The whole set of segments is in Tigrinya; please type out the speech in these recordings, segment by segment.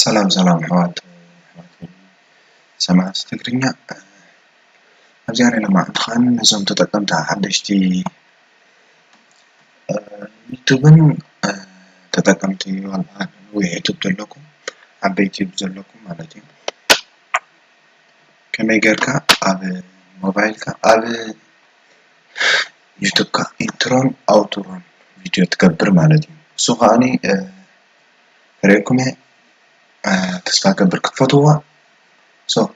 ሰላም ሰላም ኣሕዋት ሰማዕቲ ትግርኛ ኣብዚ ኣረና መዓልትኻን ነዞም ተጠቀምቲ ሓደሽቲ ዩቱብን ተጠቀምቲ ዋላ ነዊሕ ዩቱብ ዘለኩም ዓበይቲ ዩቱብ ዘለኩም ማለት እዩ ከመይ ጌርካ ኣብ ሞባይልካ ኣብ ዩቱብካ ኢንትሮን ኣውትሮን ቪድዮ ትገብር ማለት እዩ እሱ ከዓኒ ሪኤኩመ ተስፋ ገብር ክትፈትዋ ሶ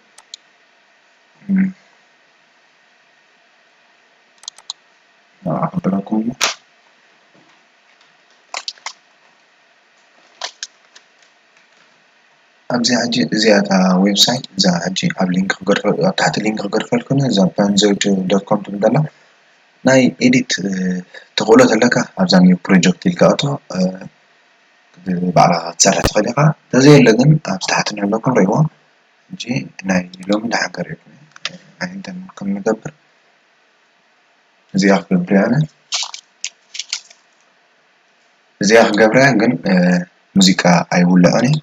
ኣክብረኩም ኣብዛ ሕጂ እዚኣ እታ ዌብሳይት እዛ ሕጂ ኣብ ሊንክ ክገድፈ ኣብ ታሕቲ ሊንክ ክገድፈልኩም እዛ ፓንዞይት ዶት ኮም ትብል ዘላ ናይ ኤዲት ተኽእሎ ተለካ ኣብዛ ኒው ፕሮጀክት ኢልካ ኣቶ ባዕልኻ ክትሰርሕ ትኽእል ኢኻ ተዘየለ ግን ኣብዚ ታሕቲ ንለኩም ርእይዎ ሕጂ ናይ ሎሚ ደሓን ከርእየኩም ኣይንተን ከም ንገብር እዚኣ ክገብር እየ ኣነ እዚኣ ክገብራ ግን ሙዚቃ ኣይውልዖን እየ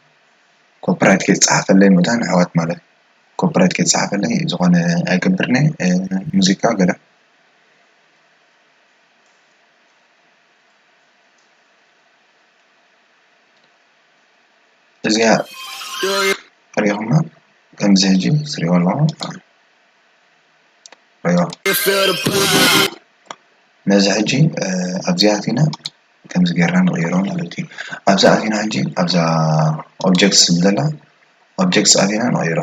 ኮፒራይት ከይፀሓፈለይ ምእታው ንኣሕዋት ማለት እዩ ኮፒራይት ከይፀሓፈለይ ዝኾነ ኣይገብርን እየ ሙዚቃ ገለ እዚኣ ሪኢኹማ ከምዚ ሕጂ ትሪእዋ ኣለኹም ረኣይዋ ነዚ ሕጂ ኣብዚ ኣቲና ከምዚ ጌርና ንቕይሮ ማለት እዩ። ኣብዚ ኣቲና ሕጂ ኣብዛ ኦብጀክት ትብል ዘላ ኦብጀክት ኣቲና ንቕይሮ።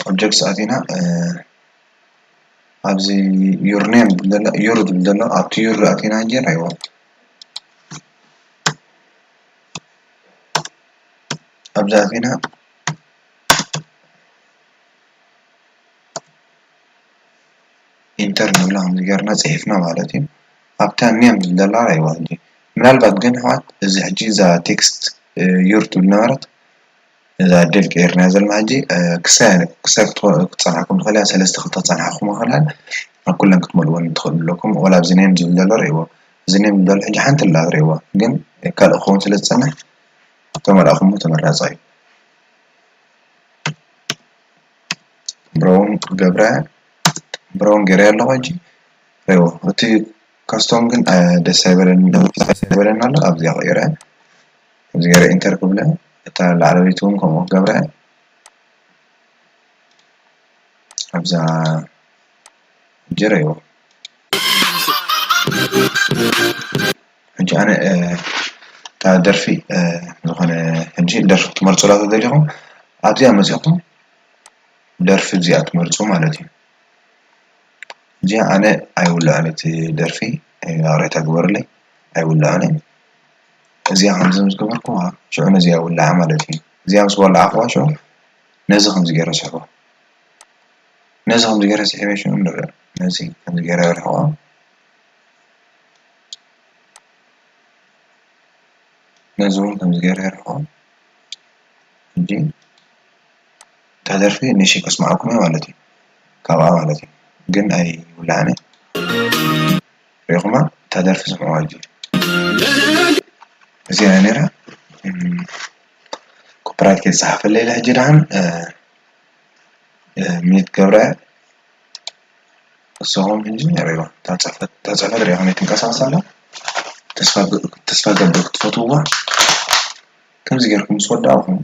ኦብጀክት ኣቲና ኣብዚ ዩር ኔም ዝብል ዘሎ ዩር ዝብል ዘሎ ኣብቲ ዩር ኣቲና ሕጂ ንሪኦ። ኣብዚ ኣቲና ኢንተር ንብሎ ከምዚ ጌርና ጺሒፍና ማለት እዩ ኣብታ ኔም ዘላ ራይዋ ሕጂ ምናልባት ግን ኣሕዋት እዚ ሕጂ እዛ ቴክስት ዩር ትብል ነበረት እዛ ዴል ቀይርናያ ዘለና ሕጂ ክሳብ ክሳብ ክትጸንሓኩም ትኽእል እያ ሰለስተ ክልተ ክጸንሓኩም ይኽእል እያ ኣብ ኩለን ክትመልእወን ትኽእሉ ኣለኩም ወላ ኣብዚ ኔም ዝብል ዘሎ ርእይዎ እዚ ኔም ዝብል ዘሎ ሕጂ ሓንቲ ኣላ ርእይዋ ግን ካልእ ክኸውን ስለ ዝጸንሕ ተመልእኩሞ ተመራጻይ እዩ ብሮን ገብረ ብሮን ገረ ኣለኹ ሕጂ ሬዎ እቲ ካስቶም ግን ደስ ኣይበለኒ ደስ ኣይበለኒ ኣሎ ኣብዚኣ ቀይረ ኣብዚ ገረ ኢንተር ክብለ እታ ላዕለወይቲ እውን ከምኡ ክገብረ ኣብዛ ሕጂ ሬዎ ሕጂ ኣነ እታ ደርፊ ዝኾነ ሕጂ ደርፊ ክትመርጹላ ተደሊኹም ኣብዚኣ መጺኹም ደርፊ እዚኣ ትመርጹ ማለት እዩ ሕጂ ኣነ ኣይውልኣን እቲ ደርፊ ይቕሬታ ግበሩለይ ኣይውልኣን እየ እዚኣ ከምዚ ምስ ገበርኩዋ ሽዑ ነዚኣ ይውልዓ ማለት እዩ እዚኣ ምስ ወላዕኩዋ ሽዑ ነዚ ከምዚ ገይረ ስሕቦ ነዚ ከምዚ ገይረ ስሒበ ሽዑ ንርኣ ነዚ ከምዚ ገይረ ኣርሕቖ ነዚ እውን ከምዚ ገይረ የርፍኦ ሕጂ እታ ደርፊ ንእሽተይ ከስምዓኩም እየ ማለት እዩ ካብኣ ማለት እዩ ግን ኣይውላዕን እየ ሪኢኹማ እታ ደርፊ ስምዕዋ ሕጂ እዚኣ እያ ነይራ ኮፒራይት ከይተፃሓፈለይ ኢለ ሕጂ ደሓን ሚዩት ክገብራ እየ እሶኦም ኢንጅነር እዮም ታፀፈ ሪኣ ከመይ ትንቀሳቀስ ኣላ ተስፋ ገብር ክትፈትዉዋ ከምዚ ጌርኩም ምስ ወዳእኹም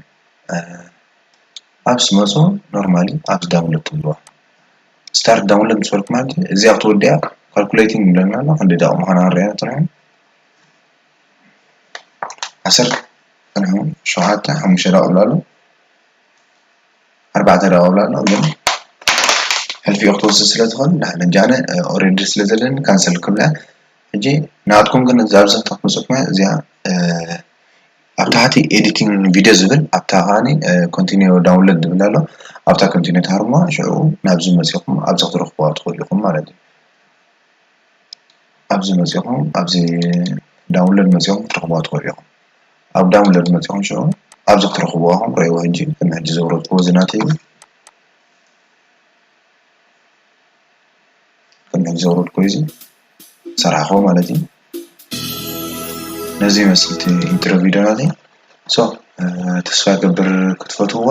ኣብ ስመፆ ኖርማሊ ኣብዚ ዳውንሎድ ትብልዋ ስታርት ዳውንሎድ ምስ በልኩማ እዚኣ ክትወድያ ካልኩሌቲንግ ይብለና ኣሎ ክንደይ ደቂቅ ምዃና ክንሪኣ ጥራይ ዓሰርተ ሸውዓተ ሓሙሽተ ደቂቅ ኣሎ ኣርባዕተ ደቂቅ ይብሎ ኣሎ ግን ሕልፊኡ ክትወስድ ስለ ትኽእል ንሕና በጃና ኦሬዲ ስለ ዘለኒ ካንሰል ክብላ ሕጂ ናትኩም ግን እዛ ኣብዚ ከተምጽኡልና እዚኣ ኣብ ታሕቲ ኤዲቲንግ ቪድዮ ዝብል ኣብታ ከዓኒ ኮንቲኒው ዳውንሎድ ዝብል ኣሎ ኣብታ ኮንቲኒው ትሃርሙዋ ሽዑ ናብዚ መጺኹም ኣብዚ ክትረኽቡዋ ትኽእሉ ኢኹም ማለት እዩ ኣብዚ መጺኹም ኣብዚ ዳውንሎድ መጺኹም ክትረኽቡዋ ትኽእሉ ኢኹም ኣብ ዳውንለድ መጺኹም ሽዑ ኣብዚ ክትረኽብዎ ኢኹም ረእይዎ ሕጂ ቅድሚ ሕጂ ዘውረድክዎ እዚ ናተይ እዩ ቅድሚ ሕጂ ዘውረድክዎ እዚ ዝሰርሓኽዎ ማለት እዩ ነዚ ይመስል እቲ ኢንትሮ ቪድዮ ናተይ ሶ ተስፋ ይገብር ክትፈትውዋ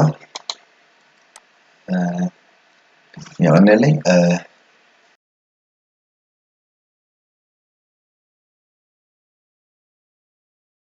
የቐንየለይ